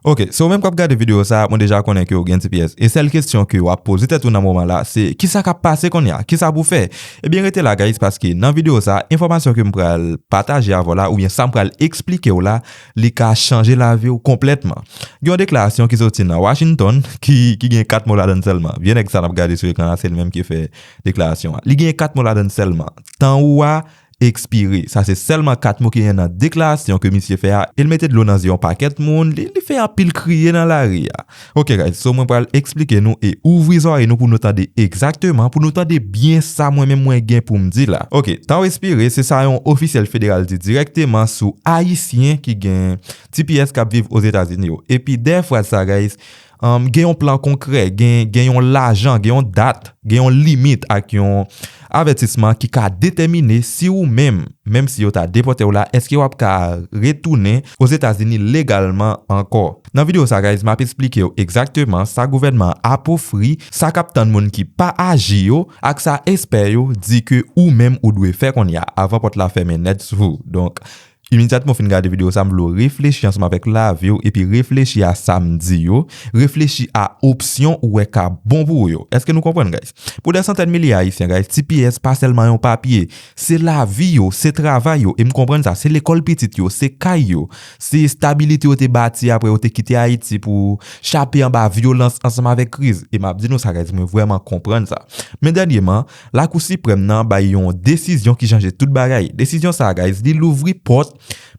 Ok, se ou menm kap gade video sa, mwen deja konnen ke ou gen tps, e sèl kesyon ke wap poze tèt ou nan moman la, se kisa kap pase konnya, kisa pou fè? Ebyen rete la guys paske nan video sa, enfòmasyon kem pral pataje avèw la oubyen sam pral eksplikew la, li ka chanje laviw konplètman. Gen yon deklarasyon ki soti nan Washington ki gen 4 mo ladann sèlman, vye nèg sa nap gade sou ekran la se li menm ki fè deklarasyon an, li gen 4 mo ladann sèlman, tan ou a Ekspire. Sa se sèlman 4 mo ki gen nan deklarasyon ke misye fè a e l mete dlo nan zye yon pakèt moun, li fè anpil kriye nan lari a. Ok guys, so mwen pral eksplike nou e ouvri zòrèy nou pou nou tande egzakteman, pou nou tande byen sa mwen menm mwen gen pou m di la. Ok, tanw espire se sa yon ofisyèl federal di dirèkteman sou ayisyen ki gen tps k ap viv Ozetazini yo. Epi dèyè fraz sa guys, Gen yon plan konkrè, gen yon lajan, gen yon dat, gen yon limit ak yon avètisman ki ka detèmine si ou menm, menm si yo ta depòte w la, èske w ap ka retounen Ozetazini legalman ankò. Nan videyo sa guys, m ap esplike w egzakteman sa gouvènman an ap ofri, sa k ap tann moun ki pa aji yo, ak sa espè yo di ke ou menm ou dwe fè kounye a, avan pòt la fèmen nèt sou ou. Donk, Imedyatman ou fin gade videyo sa, m vle w reflechi ansanm avèk lavi w epi reflechi a sa m di yo, reflechi a opsyon ou wè ka bon pou ou yo. Èske nou konprann guys? Pou dè santèn milye Ayisyen guys, tps pa sèlman yon papye, se lavi yo, se travay yo, e m konprann sa, se lekòl pitit yo, se kay yo, se estabilite yo te bati aprè yo te kite Ayiti pou chape anba vyolans ansanm avèk kriz. E m ap di nou sa guys, mwen vrèman konprann sa. Men dènyeman, Lakou Siprèm nan bay yon desizyon ki chanje tout bagay. Desizyon sa a guys, li louvri pòt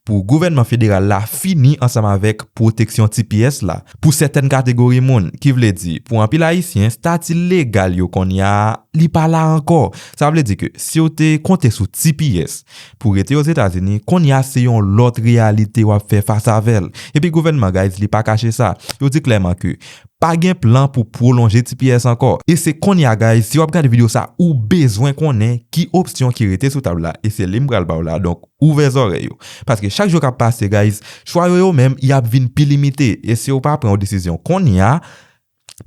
pou gouvènman federal la fini ansanm avèk pwoteksyon tps la pou sètèn kategori moun. Ki vle di, pou anpil ayisyen, stati legal yo konnya a, li pa la ankò. Sa vle di ke si w te konte sou tps pou rete Ozetazini, konnya se yon lòt reyalite w ap fè fas avè l. Epi gouvènman guys, li pa kache sa. Yo di klèman ke Pa gen plan pou pwolonje tps ankò. E se konnya guys si wap gade video sa ou bezwen konnen ki opsyon ki rete sou tab la e se li m pral baw la donk ouvè zòrèy ou paske chak jou kap pase guys chwa yo yo menm yap vin pi limite e siw pa pran yon desizyon konnya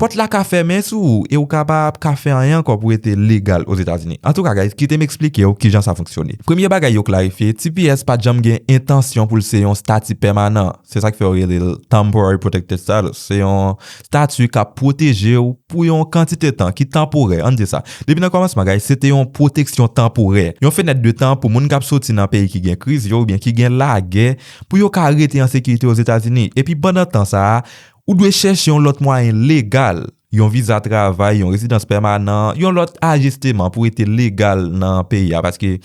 pòt la ka fèmen sou ou e ou ka pa ap ka fè anyen ankò pou rete legal ozetazini antouka guys kite m eksplikew kijan sa fonksyone premye bagay yo klarifye tps pat janm gen entansyon poul se yon stati pèmanan Se sa k fè yo rele l Temporary Protected Status. Se yon stati k ap pwoteje w pou yon kantite tan, ki tanporè, ann di sa. Depi nan kòmansman bagay, se te yon pwoteksyon tanporè, yon fenèt de tan pou moun k ap soti nan peyi ki gen kriz yo oubyen ki gen lagè pou yo ka rete an sekirite Ozetazini. Epi pandan tan sa a, ou dwe chèche yon lòt mwayen legal yon viza travay, yon rezidans pèmanan, yon lòt ajisteman pou rete legal nan peyi a paske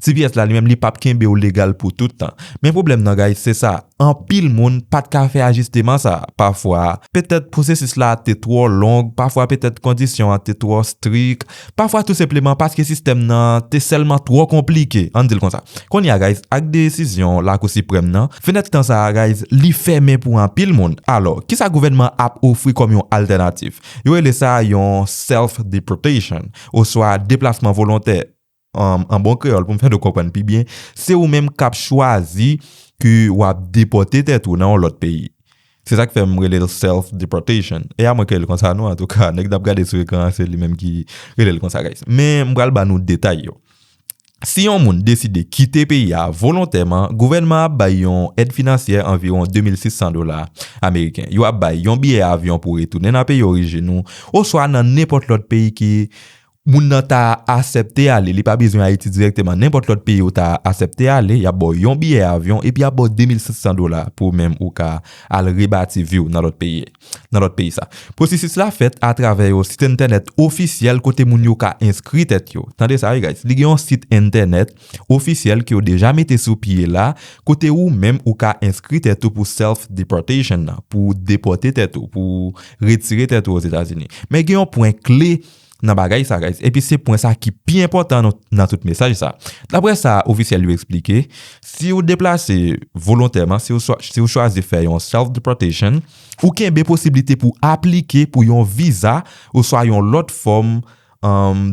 tps la li menm li pap kenbe w legal pou tout tan. Men pwoblèm nan guys se sa, anpil moun pat ka fè ajisteman sa, pafwa petèt pwosesis la te twò long, pafwa petèt kondisyon an te twò strik, Pafwa tou senpleman paske sistèm nan te sèlman twò konplike, ann di l konsa. Kounye a guys, ak desizyon Lakou Siprèm nan, fenèt tan sa a guys, li fèmen pou anpil moun. Alò, kisa gouvènman an ap ofri kòm yon altènatif? Yo rele sa yon self deportation oswa deplasman volontè. An bon kreyòl pou m fè nou konprann pi byen, se ou menm k ap chwazi ke w ap depòte tèt ou nan yon lòt peyi. Se sak fè m rele l self deportation. E a mwen ke l konsa non antouka nèg nap gade sou ekran an se li menm ki rele l konsa guys. Men m pral ba nou detay yo. Si yon moun deside kite peyi a volontèman, gouvènman ap bay yon èd finansyè anviwon 2600 dola ameriken. Yo ap bay yon biyè avyon pou retounen nan peyi orijin ou oswa nan nenpòt lòt peyi ki Moun nan ta asèpte ale, li pa bezwen Ayiti dirèkteman, nenpòt lòt peyi ou ta asèpte ale, y ap ba w yon biyè avyon epi y ap ba w 2500 dola pou ou menm ou ka al rebati vi w nan lòt peyi, nan lòt peyi sa. Pwosesis la fèt atravè yo sit entènèt ofisyèl kote moun yo ka enskri tèt yo. Tande sa wi guys, li gen yon sit entènèt ofisyèl ke yo deja mete sou pye la kote ou menm ou ka enskri tèt ou pou self deportation nan, pou depòte tèt ou, pou retire tèt ou Ozetazini. Men gen yon pwen kle nan bagay sa guys epi se pwen sa ki pi enpòtan nan tout mesaj sa daprè sa ofisyèl yo eksplike si ou deplase volontèman si ou chwazi fè yon self deportation ou kenbe posiblite pou aplike pou yon viza oswa yon lòt fòm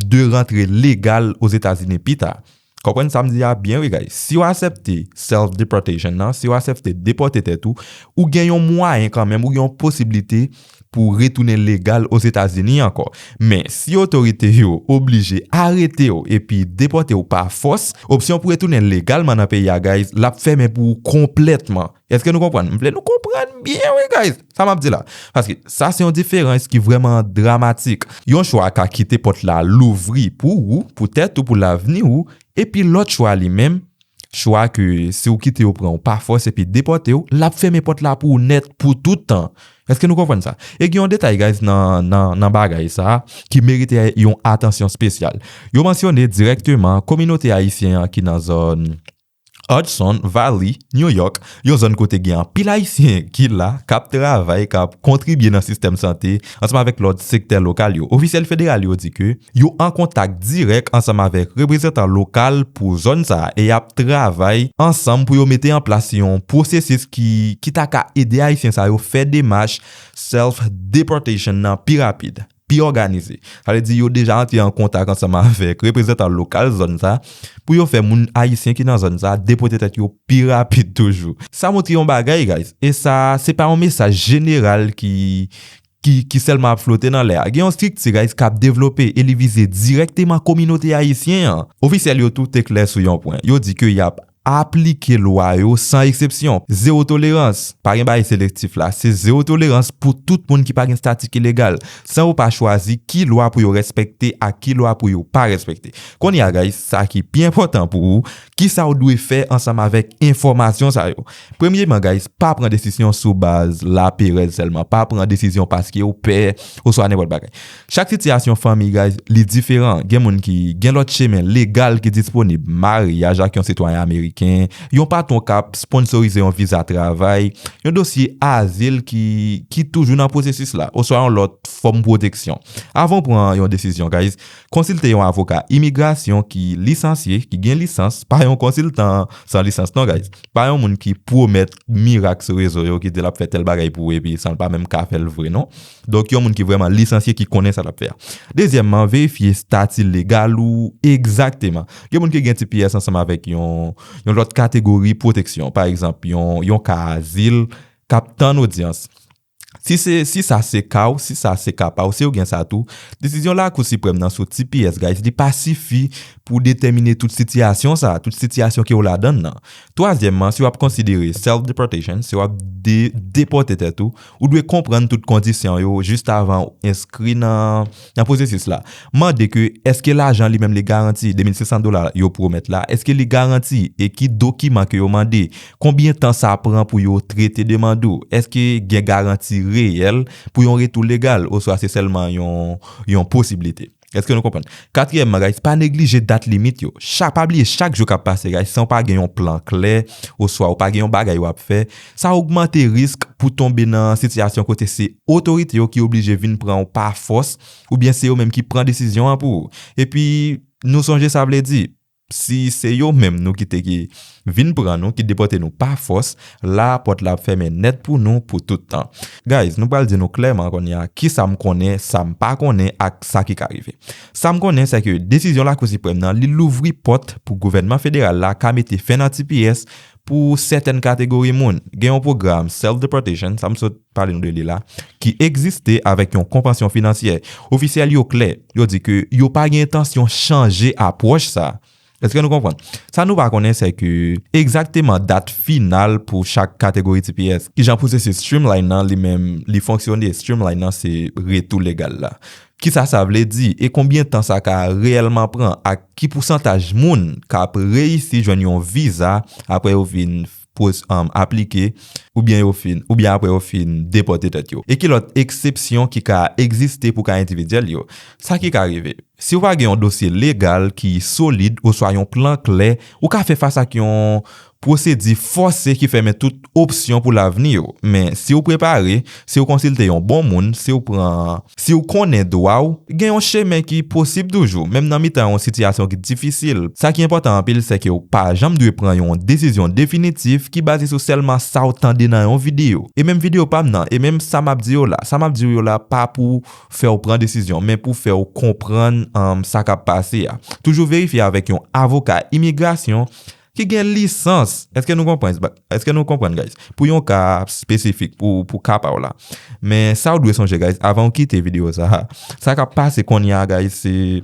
de rantre legal ozetazini pita. Konprann sa m di a byen wi guys, si w asèpte self deportation nan, si w asèpte depòte tèt ou, ou gen yon mwayen kanmenm, ou gen yon posiblite pou w retounen legal Ozetazini ankò. Men, si otorite yo oblije arete w epi depòte w pa fòs, opsyon pou retounen legalman nan peyi a guys, l ap fèmen pou ou konplètman. Eske nou konprann? M vle nou konprann byen wi guys! Sa m ap di la? Paske sa se yon diferans ki vrèman dramatik. Yon chwa ka kite pòt la louvri pou ou, pou tèt ou, pou lavni ou, epi lòt chwa li menm, chwa ke si ou kite yo pran ou pa fòs epi depòte ou, l ap fèmen pòt la pou ou nèt pou tout tan. Eske nou konprann sa? E gen yon detay guys nan bagay sa a ki merite yon atansyon spesyal. Yo mansyone dirèkteman kominote ayisyen an ki nan zòn. Hudson Valley, New York, yon zòn kote gen anpil Ayisyen ki la, k ap travay, k ap kontribye nan sistèm sante, ansanm avèk lòt sektè lokal yo. Ofisyèl federal yo di ke yo an kontak dirèk ansanm avèk reprezantan lokal pou zòn sa a e y ap travay ansanm pou yo mete an plas yon pwosesis ki ki ta ka ede Ayisyen sa yo fè demach self-deportation nan pi rapid. pi òganize. Sa vle di yo deja antre an kontak ansanm avèk reprezantan lokal zòn sa pou yo fè moun ayisyen ki nan zòn sa depote tèt yo pi rapid toujou. Sa montre yon bagay guys, e sa se pa yon mesaj jeneral ki ki sèlman ap flote nan lè a. Gen yon strikti guys k ap devlope e li vize dirèkteman kominote ayisyen an. Ofisyèl yo tou te klè sou yon pwen, yo di ke y ap Aplike lwa yo san eksepsyon. Zewo tolerans. Pa gen bagay selektif la. Se zewo tolerans pou tout moun ki pa gen stati ki legal. San yo pa chwazi ki lwa pou yo respekte ak ki lwa pou yo pa respekte. Kounye a guys, sa ki pi enpòtan pou ou, kisa ou dwe fè ansanm avèk enfòmasyon sa yo. Premyeman guys, pa pran desisyon sou baz laperèz sèlman. Pa pran desizyon paskew pè oswa nenpòt bagay. Chak sitiyasyon fanmi guys li diferan gen moun ki gen lòt chemen legal ki disponib maryaj ak yon sitwayen ameriken yon patwon kap sponsorize yon viza travay yon dosye azil ki ki toujou nan pwosesis la oswa yon lòt fòm pwoteksyon avan ou pran yon desizyon guys konsilte yon avoka imigrasyon ki lisansye ki gen lisans pa yon konsiltan san lisans non guys pa yon moun ki pwomèt mirak sou rezo yo ki di lap fè tèl bagay pou ou epi sanl pa menm ka fèl vre non. Donk yon moun ki vrèman lisansye ki konnen sa l ap fè a. Dezyèmman, verifye stati legal ou egzakteman. Gen moun ki gen tps ansanm avèk yon lòt kategori pwoteksyon, pa egzanp yon ka azil k ap tann odyans. Si sa se ka w, si sa se ka pa w, si ou gen sa tou, desizyon Lakou Siprèm nan sou tps guys li pa sifi pou detèmine tout sitiyasyon sa a, tout sitiyasyon ke w ladan l lan. Twazyèmman, si w ap konsidere self-deportation, si w ap depòte tèt ou, Ou dwe konprann tout kondisyon yo jis avan ou enskri nan pwosesis la. Mande ke èske lajan li menm li garanti, 2.500 dola yo pwomèt la, èske li garanti e ki dokiman ke yo mande, konbyen tan sa pran pou yo trete demand ou, èske gen garanti reyèl pou yon retou legal oswa se sèlman yon posiblite. Èske nou konprann? Katriyèmman guys, pa neglije dat limit yo. Chak, pa bliye chak jou k ap pase guys san w pa gen yon plan klè oswa ou pa gen yon bagay w ap fè, sa ogmante risk pou tonbe nan sitiyasyon kote se otorite yo ki oblije vin pran w pa fòs oubyen se yo menm ki pran desizyon an pou ou. Epi, nou sonje sa vle di. Si se yo menm nou kite ki Vin pran nou, ki depòte nou pa fòs, la a pòt la ap fèmen nèt pou nou pou tout tan. Guys, nou pral di nou klèman konnye a kisa m konnen, sa m pa konnen ak sa ki ka rive. Sa m konnen sèke desizyon Lakou Siprèm nan li louvri pòt pou gouvènman federal la ka mete fen nan tps Pou sètèn kategori moun, gen yon pwogram self-deportation, sa m sot pale nou de li la, ki egziste avèk yon konpansyon finansyè. Ofisyèl yo klè, yo di ke yo pa gen entansyon chanje apwòch sa. Eske nou konprann? Sa nou pa konnen se ke egzakteman dat final pou chak kategori tps. Kijan pwosesis Streamline nan li menm li fonksyone? Streamline nan se retou legal la. Kisa sa vle di e konbyen tan sa ka reyèlman pran ak ki pousantaj moun k ap reyisi jwenn yon viza apre yo fin aplike oubyen apre yo fin depòte tèt yo? E ki lòt eksepsyon ki ka egziste pou ka endividyèl yo? Sa ki ka rive? Si ou pa gen yon dosye legal ki solid oswa yon plan klè, ou ka fè fas ak yon Pwosedi fòse ki fèmen tout opsyon pou lavni yo. Men, si w prepare, si w konsilte yon bon moun, si w pran. Si w konnen dwa w, gen yon chemen ki posib toujou, menm nan mitan yon sitiyasyon ki difisil. Sa ki enpòtan anpil sèke w pa janm dwe pran yon desizyon definitif ki baze sou sèlman sa w tande nan yon videyo. E menm videyo pa m nan, e menm sa m ap di yo la, sa m ap di w yo la pa pou fè w pran desizyon, men pou fè w konprann sa k ap pase a. Toujou verifye avèk yon avoka imigrasyon. Ki gen lisans. Eske nou konprann sa? Eske nou konprann guys? Pou yon ka spesifik pou ka pa w la. Men sa w dwe sonje guys avan w kite video sa a. Sa kap pase kounye a guys se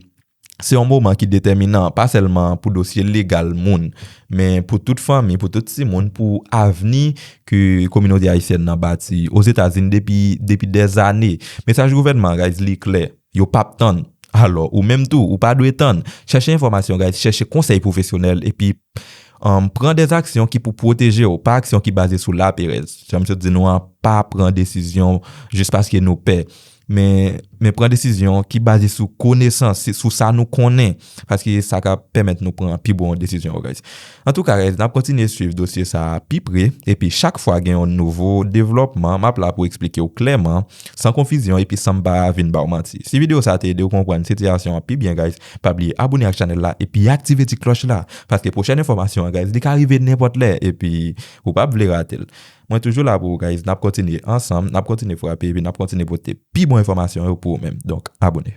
se yon moman ki detèminan pa sèlman pou dosye legal moun. Men pou tout fanmi, pou tout timoun, pou avni ke kominote ayisyèn nan bati ozetazini depi depi dèzane. Mesaj gouvènman guys li klè. Yo pap tann. Alò, ou menm tou, ou pa dwe tann. Chèche enfòmasyon guys, chèche konsèy pwofesyonèl epi pran des aksyon ki pou pwoteje w, pa aksyon ki baze sou laperèz. Jan m sot di nou an, pa pran desizyon jis paske nou pè, men pran desizyon ki baze sou konesans, sou sa nou konnen. paske se sa k ap pèmèt nou pran pi bon desizyon yo guys. Antouka guys n ap kontinye swiv dosye sa a pi pre epi chak fwa gen yon nouvo devlòpman m ap la pou eksplike w klèman san konfizyon epi san m pa vin ba w manti. Si videyo sa a te ede w konprann sitiyasyon an pi byen guys pa bliye abone ak chanèl la epi aktive ti klòch la paske pwochèn enfòmasyon an guys li ka rive nenpòt lè epi ou p ap vle rate l. Mwen toujou la pou ou guys n ap kontinye ansanm n ap kontinye frape epi n ap kontinye pote pi bon enfòmasyon yo pou ou menm donk abone.